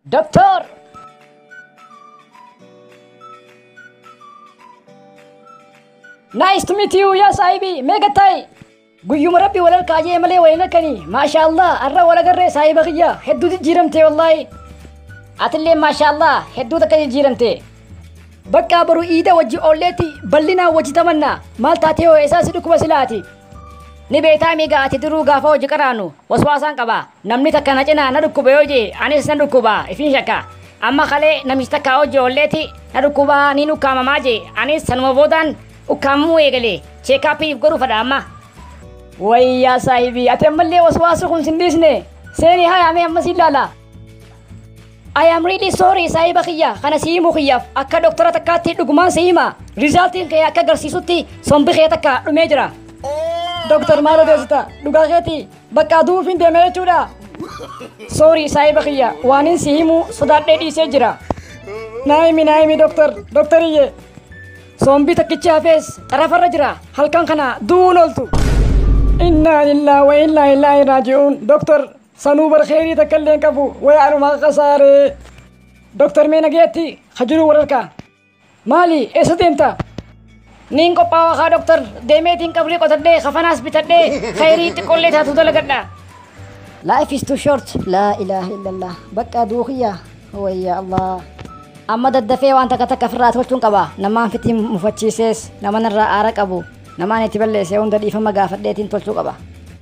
Doktor! Nice to meet you, yes, Saahibi. Meeqa ta'i? Guyyuma rabbi wal harkaa jee malee wal hin harkani. Maasha Allah, har'a wal agarree saahiba kiyya. Hedduu jijjiiramte wallaahi. Atillee maasha Allah, hedduu takka jijjiiramte. Bakka boru iida wajji oolleetti bal'inaan wajji tamanna. Maal taatee hoo eessaas dhukkuba silaati? Ni beektaa miiga ati duruu gaafa hojii qaraanu waswaasaan qaba. Namni takka na cinaa na dhukkube yoo jee anis nan dhukkuba ifiin shakka. Amma kalee namichi takka hojii oolleeti na dhukkuba niin ukkaamamaa jee anis sanuma boodaan ukkaamamuu eegale cheekaappiif godhuu fadha amma. Wayii yaa saahibii ati ammallee waswaasuu kun sin dhiisne seenii haya mee amma siin laala. I am really sorry saahiba kiyya kana si himuu kiyyaaf akka doktora takkaatti dhugumaan si hima rizaaltiin kee akka agarsiisutti sombi kee takka dhumee jira. Doktar maal odeessita dhugaa keetii Bakka duufiin deeme jechuudha. Sorry saahiba kiyya waanin si himu sodaadhee dhiisee jira. Naayimi naayimi doktar doktariyyee. Soombii takkichi hafees xarafarra jira halkan kana du'uun ooltu. Inna lillahi wa inna ilaahi raaji'uun doktar sanuu bar kheyrii takka illee hin qabu waya anumaa qasaaree. Doktar mee nageetti ha jiru wararkaa. Maali eessa deemta? Niin qophaawaa kaa doktar deemeetiin qabrii qotadhee kafanaas bitadhee khayrii xiqqollee taatu dalagadha. Life is too short. Laa ilaaha illallah. Bakka aduu kiyya. Wayya Allah. Amma daddafee waan takka takka ofirraa tolchuun qaba. Namaan fitii mufachiisees, naman irraa aara qabu, namaan itti balleesse hunda dhiifama gaafadheetiin tolchuu qaba.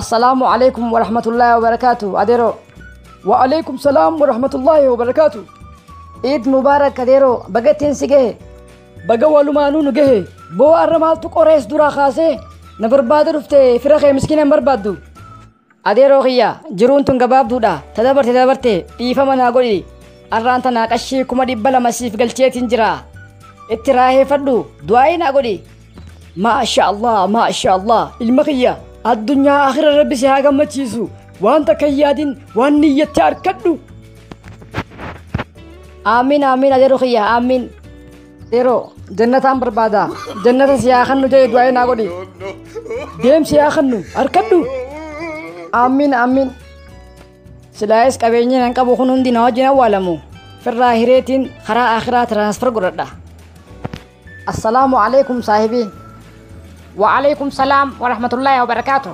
assalaamu alaikum warahmatullaahi wabarakaatu adeeroo waalaikum salaam warahmatullaahi wabarakaatu iid mubaarak adeeroo baga ittiin si gahe baga walumaanuu nu gahe boo arra maaltu qorees duraa kaasee na barbaada dhufte fira kee miskiina hin barbaaddu adeeroo kiyya jiruun tun gabaabduudha ta dabarte dabarte dhiifama naa godhi arraan tanaa qashii kuma dhibba lama siif galcheetiin jira itti raaheeffadhu du'aa'ii naa godhi maasha allah maasha allah ilma kiyya addunyaa akhira rabbi si haa gammachiisu waan takka hin yaadin waan niyyatte arkadhu aamiin aamiin adeero kiyya aamiin yeroo jannataan barbaada jannata si haa kannu jedhe du'aa naa godhi deem si haa kannu arkadhu aamiin aamiin silaayis qabeenyi nan qabu kun hundi na wajjin awwaalamu firraa hireetiin karaa akhiraa tiraansfer godhadha Assalaamu alaikum saahibii. Wa'aleykum salaam wa rahmatullahi wa barakaatu.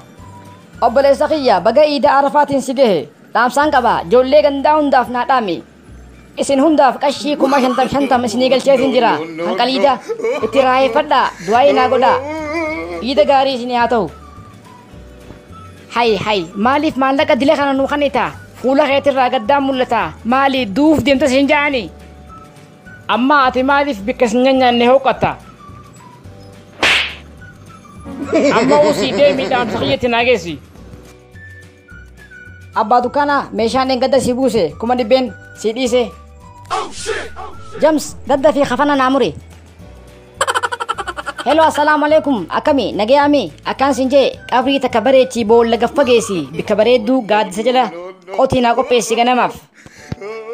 Obboleessa kiyya baga iida arafaatiin si gahe dhaamsaan qaba joollee gandaa hundaaf naa dhaami. Isin hundaaf qashii kuma shantam shantam isinii galcheetiin jira kan qaliida itti raayeeffadhaa du'aa'ii naa godhaa. Iida gaarii isinii haa ta'u. Hay hay maaliif maallaqa dila kana nuu kanita fuula keetirraa gaddaan mul'ata maali duuf deemtas hin ja'ani. Ammaa ati maaliif bikka sin nyanyaanne hooqatta? Amma usii deemii dhaamsa kiyyatti naa geessi. Abbaa dukkaanaa meeshaan dheengadda si buuse kuma dhibbeen si dhiise. Jams gadda fi kafana naa muri. Hello assalaamu alaikum akkami nagayaami akkaan sin jee qabrii takka bareechii boolla gaffa geessi bikka bareedduu gaaddisa jala qotii naa qopheessi ganamaaf.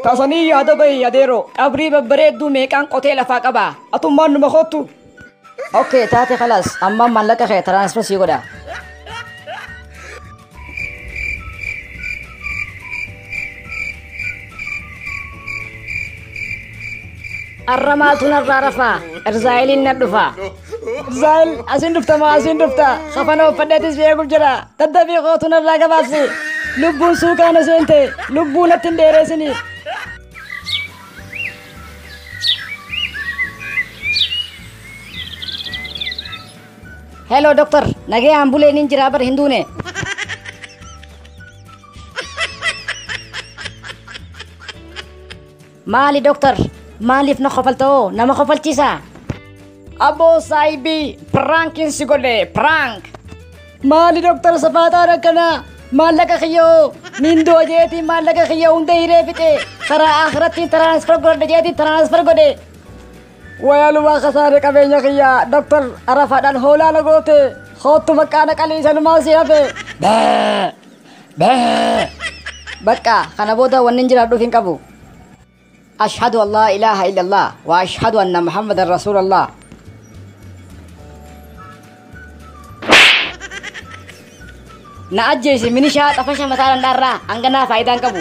Tasanii yaada bahi yadeeroo. Qabrii babbareedduu meeqaan qotee lafaa qaba. Atummaan numa koottu. Okay taate kalaas amma maallaqa kee transfer sii godha. Arra maaltu narraa rafaa? Erzaayiliin na dhufa. Zaal asiin dhufta moo asiin dhufta kafana uffadheetis si eeguuf jira daddabii kootu narraa gabaabsi lubbuun suukaana seente lubbuu natti hin dheereessini. Hello doctor nagee ambuleen hin jiraa bar hin duune. Maali Doktar? Maaliif na kofalta hoo? Nama kofalchiisaa? Aboo saayibii piraankiin si godhe piraank. Maali Doktar safaaxaan akkanaa? Maallaqa kiyya hoo? Niin du'a jeetii maallaqa kiyya hunda hiree fixe. Karaa akhirattiin tiraansfer godhadha jeetii tiraansfer godhe. Wayalumaa kasaare qabeenya kiyya Doktar arafaadhaan hoolaa na goote. Koottu baqqaana qalii sanumaa si hafe. Bee! Bee! Bakka kana booda wannin jiraadhuuf hin qabu. Ashhadu an laa ilaaha illallah wa ashhadu anna Muhammadan Rasuulallah. Na ajjeesi minishaa xafasha mataa dhandhaarraa hanganaa faayidaa hin qabu.